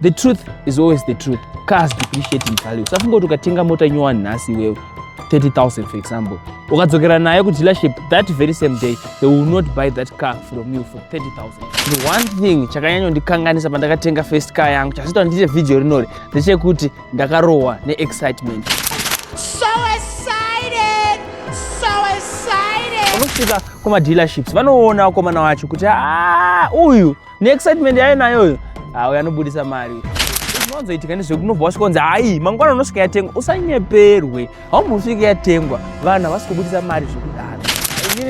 The truth is always the truth. Cars depreciate in value. Usafunga kuti ukatenga mota nyuwa nhasi iwewe 30,000 for example. Ukadzokera nayo ku dealership that very same day they will not buy that car from you for 30,000. The one thing chakanyanya ndikanganisa pandakatenga first car yangu chasita ndiite video rinori ndechekuti ndakarohwa ne excitement. So excited! So excited! Unosvika kuma dealerships vanoona komana wacho kuti ah uyu neexcitement yayo nayoyo auya anobudisa mari zvinozoitika ndizve kunobva wasvika kunzi hayi mangwana unosvika yatengwa usanyeperwe haumbosvika yatengwa vanhu havasi kubudisa mari zvekudaro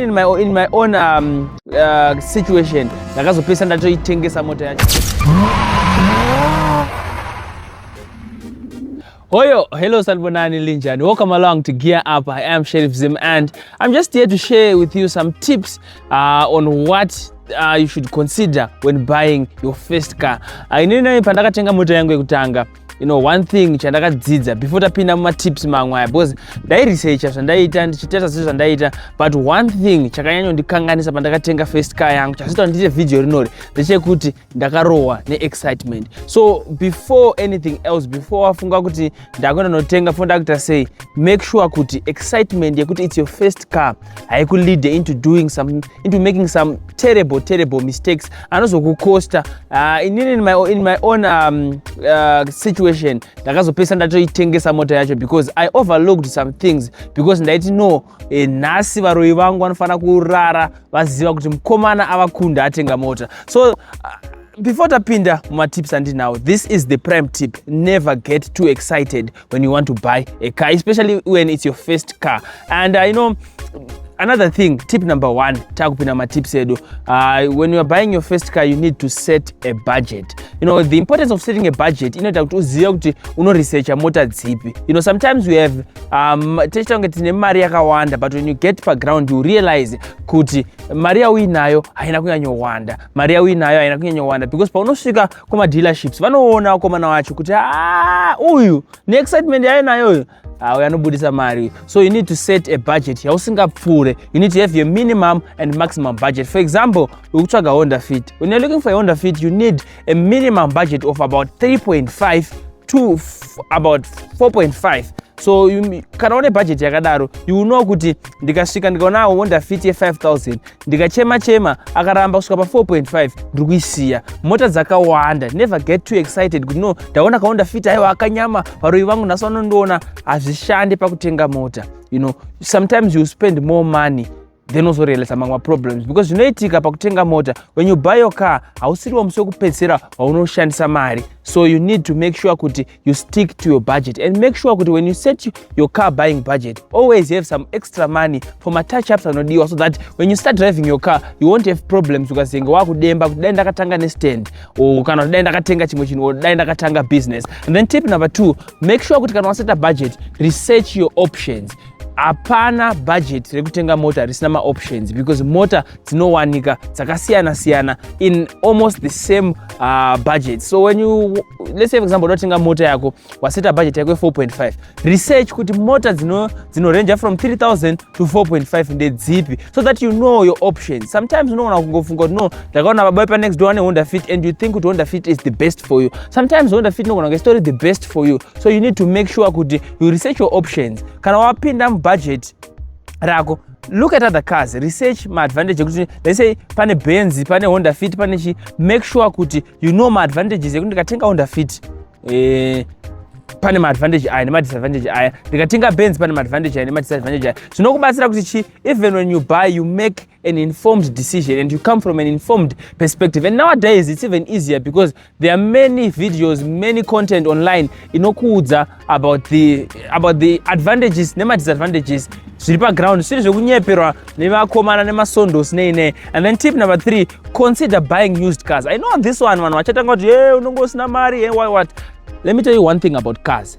in my, in my own um, uh, situation ndakazopesa ndatoitengesa mota yacho Hoyo, hello Sanbonani Linjan. Welcome along to Gear Up. I am Sheriff Zim and I'm just here to share with you some tips uh, on what uh, you should consider when buying your first car. Uh, inini nai pandakatenga mota yangu yekutanga you know one thing chandakadzidza before tapinda mumatips mamwe aya because ndairesearcha zvandaiita ndichitesa zvinhu zvandaiita but one thing chakanyanyondikanganisa pandakatenga first car yangu chazita ndiite vhidhiyo rinori ndechekuti ndakarohwa neexcitement so before anything else before wafunga kuti ndakuenda notenga fo ndakuita sei make sure kuti excitement yekuti its your first car haikuleade into doing some into making some terrible terrible mistakes anozokucosta uh, ah, inini in my, in my own um, uh, situation ndakazopesa ndatoitengesa mota yacho because i overlooked some things because ndaiti no e, nhasi varoyi vangu vanofanira kurara vaziva kuti mukomana avakunda atenga mota so uh, before tapinda mumatips andinawo this is the prime tip never get too excited when you want to buy a car especially when it's your first car and i uh, know another thing tip number one takupinda matips edu uh, when youare buying your first car you need to set a budget you know the importance of setting a budget inoita kuti uzive kuti unoresearcha mota dzipi you know sometimes we have um, tichita kunge tine mari yakawanda but when you get paground you realize kuti mari yauinayo haina kunyanyowanda mari yauinayo haina kunyanyowanda because paunosvika kumadealerships vanoona vakomana wacho kuti ah, uyu neexcitement yainayo uyu auya anobudisa mari so you need to set a budget yausingapfuure you need to have your minimum and maximum budget for example ukutsvaga honda fit when you're looking for a honda fit you need a minimum budget of about 3.5 to about 4.5 so kana une bhajeti yakadaro you know kuti ndikasvika ndikaona honda fit ye5000 ndikachema chema akaramba kusvika pa4.5 ndiri kuisiya mota dzakawanda never get too excited kuti no ndaona kahonda fit aiwa akanyama varoyi vangu nhasi vanondiona hazvishande pakutenga mota you know sometimes you spend more money then ozorealisa mamwe maproblems because zvinoitika pakutenga mota when you buy your car hausiriwo musi wekupedzisira waunoshandisa mari so you need to make sure kuti you stick to your budget and make sure kuti when you set your car buying budget always have some extra money for matouch ups anodiwa so that when you start driving your car you won't have problems ukazenge wakudemba kuti dai ndakatanga nestand or kana kuti dai ndakatenga chimwe chinhu or dai ndakatanga business and then tip number two make sure kuti kana waseta budget research your options hapana budget rekutenga mota risina maoptions because mota dzinowanika dzakasiyana siyana in almost the same uh, budget so when you let's say for example unotenga mota yako waseta budget yako 4.5 research kuti mota dzinorenja from 3000 to 4.5 ndedzipi so that you know your options sometimes unoona kungofunga kuti no ndakaona baba pa next door ane honda fit and you think kuti honda fit is the best for you sometimes honda fit inogona kunge story the best for you so you need to make sure kuti you research your options kana wapinda mubudget rako look at other cars research maadvantage ekuti let's say pane benzi pane honda fit pane chi make sure kuti you know maadvantages ekuti ndikatenga honda fit eh, pane maadvantage aya nemadisadvantage aya ndikatenga benzi pane maadvantage aya nemadisadvantage aya zvinokubatsira kuti chi even when you buy you make an informed decision and you come from an informed perspective and nowadays it's even easier because there are many videos many content online inokuudza about the about the advantages nemadisadvantages zviri paground zvisiri zvekunyeperwa nevakomana nemasondos nei nei and then tip number three consider buying used cars i know this one vanhu vachatanga kuti e unonge usina mari e why what let me tell you one thing about cars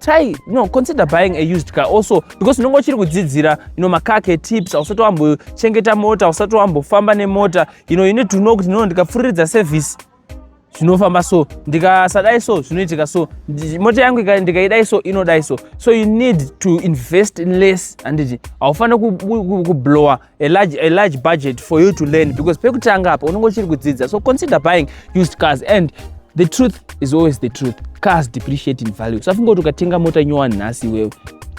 try no consider buying a used car also because unenge uchiri kudzidzira you know makake tips ausati wambochengeta mota ausati wambofamba nemota you know you need to know kuti no ndikapfuriridza service zvinofamba so ndikasadai so zvinoitika so mota yangu ndikaidai so inodai so so you need to invest less handiti haufanire kublowa a large, a large budget for you to learn because pekutanga apa unenge uchiri kudzidza so consider buying used cars and the truth is always the truth cars depreciate in value usafunga kuti ukatenga mota nyowani nhasi iwewe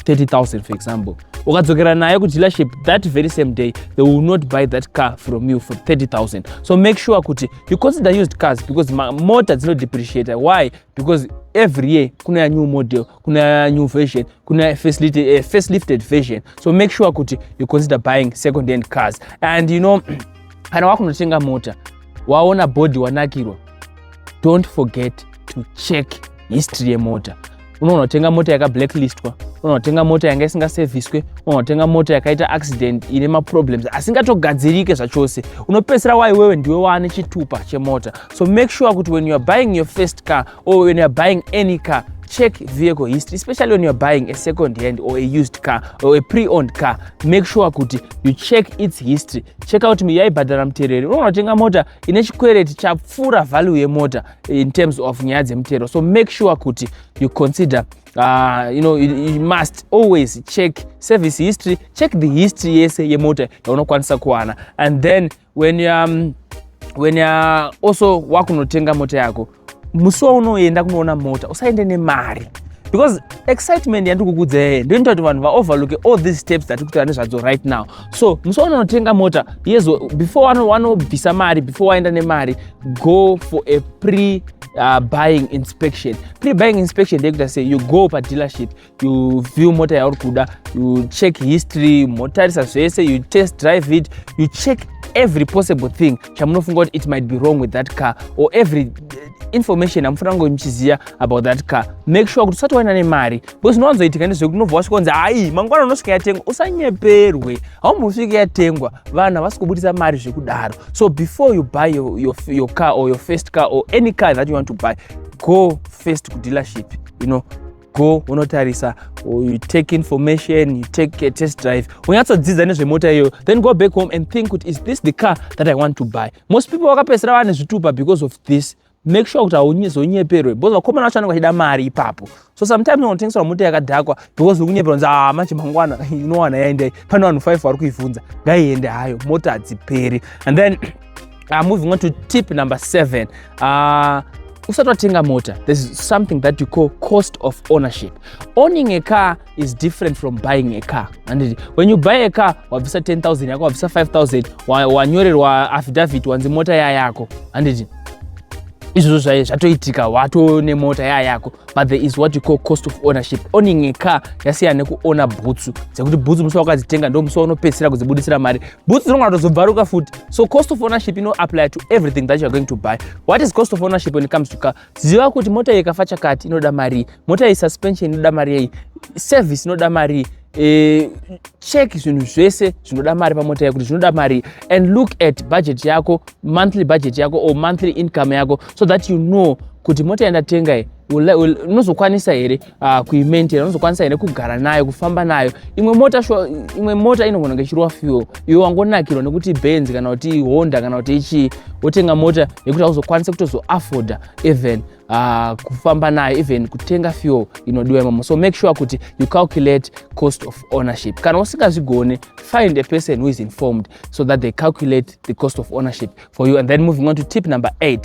30000 for example ukadzokera nayo kudealership that very same day they will not buy that car from you for 30000 so make sure kuti you consider used cars because mota dzinodepreciate why because every year kunouya new model kuna new version kuna facelifted, uh, facelifted version so make sure kuti you consider buying second hand cars and you know kana wakunotenga mota waona body wanakirwa don't forget to check history yemota unonotenga mota yakablacklistwa unonotenga mota yanga isingaseviswe unonotenga mota yakaita accident ine maproblems asingatogadzirike zvachose unopedzisira waiwewe ndiwe waane chitupa chemota so make sure kuti when youare buying your first car or when you're buying any car check vehicle history especially when you're buying a second hand or a used car or a pre-owned car make sure kuti you check its history check out yaibhadhara mutereri unoona kutenga mota ine chikwereti chapfuura value yemota in terms of nyaya dzemutero so make sure kuti you consider uh, you know you, you must always check service history check the history yese yemota yaunokwanisa kuwana and then when you are, um, when you are also wakunotenga mota yako musi waunoenda kunoona mota usaende nemari because excitement yandiri kukudza yeye ndoinoita kuti vanhu vaoverlooke all these steps dzatiri kutaura nezvadzo right now so musi waunonotenga mota yes before wanobvisa mari before waenda nemari go for a pre uh, buying inspection pre buying inspection ndeyekuita sei you go padealership you view mota yauri kuda you check history motarisa zvese you test drive it you check every possible thing chamunofunga kuti it might be wrong with that car or every uh, information amufanira kunge muchiziva about that car make sure kuti usati waina nemari because zvinowanzoitika ndezvekuti unobva wasvika kunzi hayi mangwana unosvika yatengwa usanyeperwe haumbosvike yatengwa vanhu havasi kubudisa mari zvekudaro so before you buy your, your, your car or your first car or any car that you want to buy go first kudealership you know go unotarisa or you take information you take a test drive unyatsodzidza nezvemota iyoyo then go back home and think kuti is this the car that i want to buy most people vakapedzisira vane zvitupa because of this make sure kuti hauzonyeperwe because vakomana vacho vanenge vachida mari ipapo so sometimes unotengeserwa mota yakadhakwa because ukunyeperwa unzi ah manje mangwana inowana yaendai pane vanhu five vari kuivhunza ngaiende hayo mota hadziperi and then uh, moving on to tip number seven uh, usati watenga mota there's something that you call cost of ownership owning a car is different from buying a car anditi when you buy a car wabvisa 10000 yako wabvisa 5000 wanyorerwa affidavit wanzi mota ya yako anditi izvozvo zvaye zvatoitika wato nemota ya yako but there is what you call cost of ownership owning a car yasiyana nekuona bhutsu dzekuti bhutsu musi wakadzitenga ndo musi waunopedzisira kudzibudisira mari bhutsu dzinonga tozobvaruka futi so cost of ownership ino apply to everything that youare going to buy what is cost of ownership when it comes to car ziva kuti mota iyi ikafa chakati inoda marii mota iyi suspension inoda mari yei service inoda marii e, check zvinhu zvese zvinoda mari pamota yakuti zvinoda mari and look at budget yako monthly budget yako or monthly income yako so that you know kuti mota yandatenga unozokwanisa here uh, kuimaintaina unozokwanisa here kugara nayo kufamba nayo imwe mota sho imwe mota inogona kunge ichirova fuel iwe wangonakirwa nekuti benz kana kuti honda kana kuti ichii wotenga mota yekuti hauzokwanisa kutozoafforda even uh, kufamba nayo even kutenga fuel inodiwa imomo so make sure kuti you calculate cost of ownership kana usingazvigone find a person who is informed so that they calculate the cost of ownership for you and then moving on to tip number 8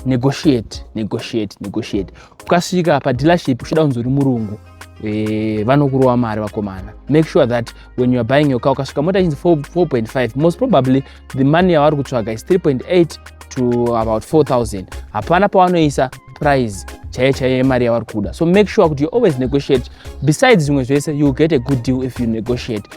negotiate negotiate negotiate ukasvika padealership uchida kunzi uri murungu e, vanokurova mari vakomana make sure that when youare buying your car ukasvika mota chinzi 4.5 most probably the money yavari kutsvaga is 3.8 to about 4000 hapana pavanoisa price chaiye chaiye yemari yavari kuda so make sure kuti you always negotiate besides zvimwe zvese you get a good deal if you negotiate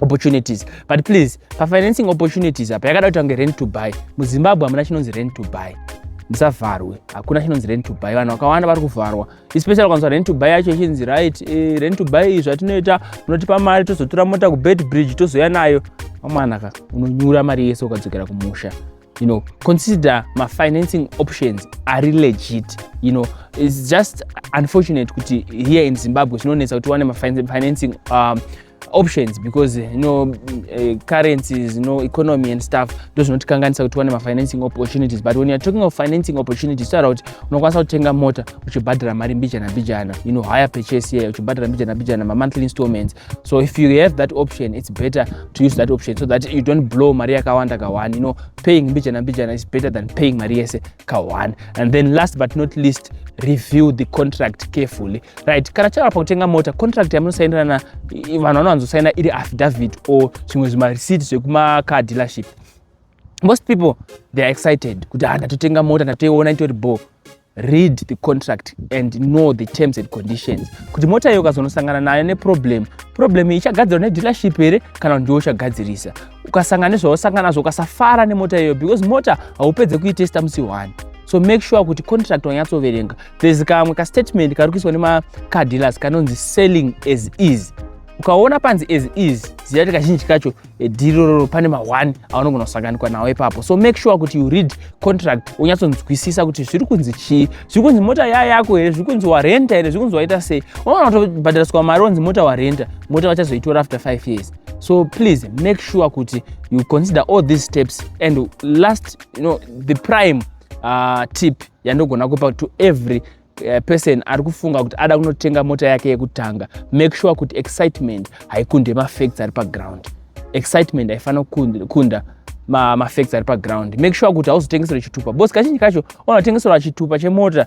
opportunities but please pafinancing opportunities apa yakada kuti ange rent to buy muzimbabwe hamuna chinonzi rent to buy musavharwe hakuna chinonzi rent to buy vanhu vakawanda vari kuvharwa especially ukanzwa rent to buy yacho ichinzi right eh, rent to buy izvi atinoita unotipa mari tozotura mota kubed bridge tozouya nayo mamwanaka unonyura mari yese ukadzokera kumusha you know consider mafinancing options ari legit you know its just unfortunate kuti here in zimbabwe zvinonetsa kuti wane mafinancing um, options because you know uh, currencies you know economy and stuff ndo zvinotikanganisa kuti wane mafinancing opportunities but when youare talking of financing opportunities taura kuti unokwanisa kutenga mota uchibhadhara mari mbijana mbijana you know higher purchase here uchibhadhara mbijana mbijana mamonthly installments so if you have that option it's better to use that option so that you don't blow mari yakawanda ka one you know paying mbijana mbijana is better than paying mari yese ka one and then last but not least review the contract carefully right kana chava pakutenga mota contract yamunosainirana vanhu vanowanzosaina iri affidavit or zvimwe zvimareceipt zvekumacar dealership most people they are excited kuti ah ndatotenga mota ndatoiona itori bo read the contract and know the terms and conditions kuti mota iyo ukazonosangana nayo neproblem problem ichagadzirwa nedealership here kana kuti ndiwo uchagadzirisa ukasangana nezvausangana nazvo ukasafara nemota iyoyo because mota haupedze kuitesta musi one so make sure kuti contract wanyatsoverenga there's kamwe kastatement kari kuiswa nemacardillers kanonzi selling as easy ukaona panzi as is ziva kuti kazhinji kacho eh, dhiri roro pane ma1 aunogona kusanganikwa nawo ipapo so make sure kuti you read contract unyatsonzwisisa kuti zviri kunzi chii zviri kunzi mota ya yako here zviri kunzi warenta here zviri kunzi waita sei unoona kutobhadhariswa mari onzi mota warenta mota vachazoitora after 5 years so please make sure kuti you consider all these steps and last you know, the prime uh, tip yandogona kupa to every uh, person ari kufunga kuti ada kunotenga mota yake yekutanga make sure kuti excitement haikunde mafacts ari paground excitement haifanira kukunda mafacts ari paground make sure kuti hauzotengeserwe chitupa bcause kazhinji kacho unotengeserwa chitupa chemota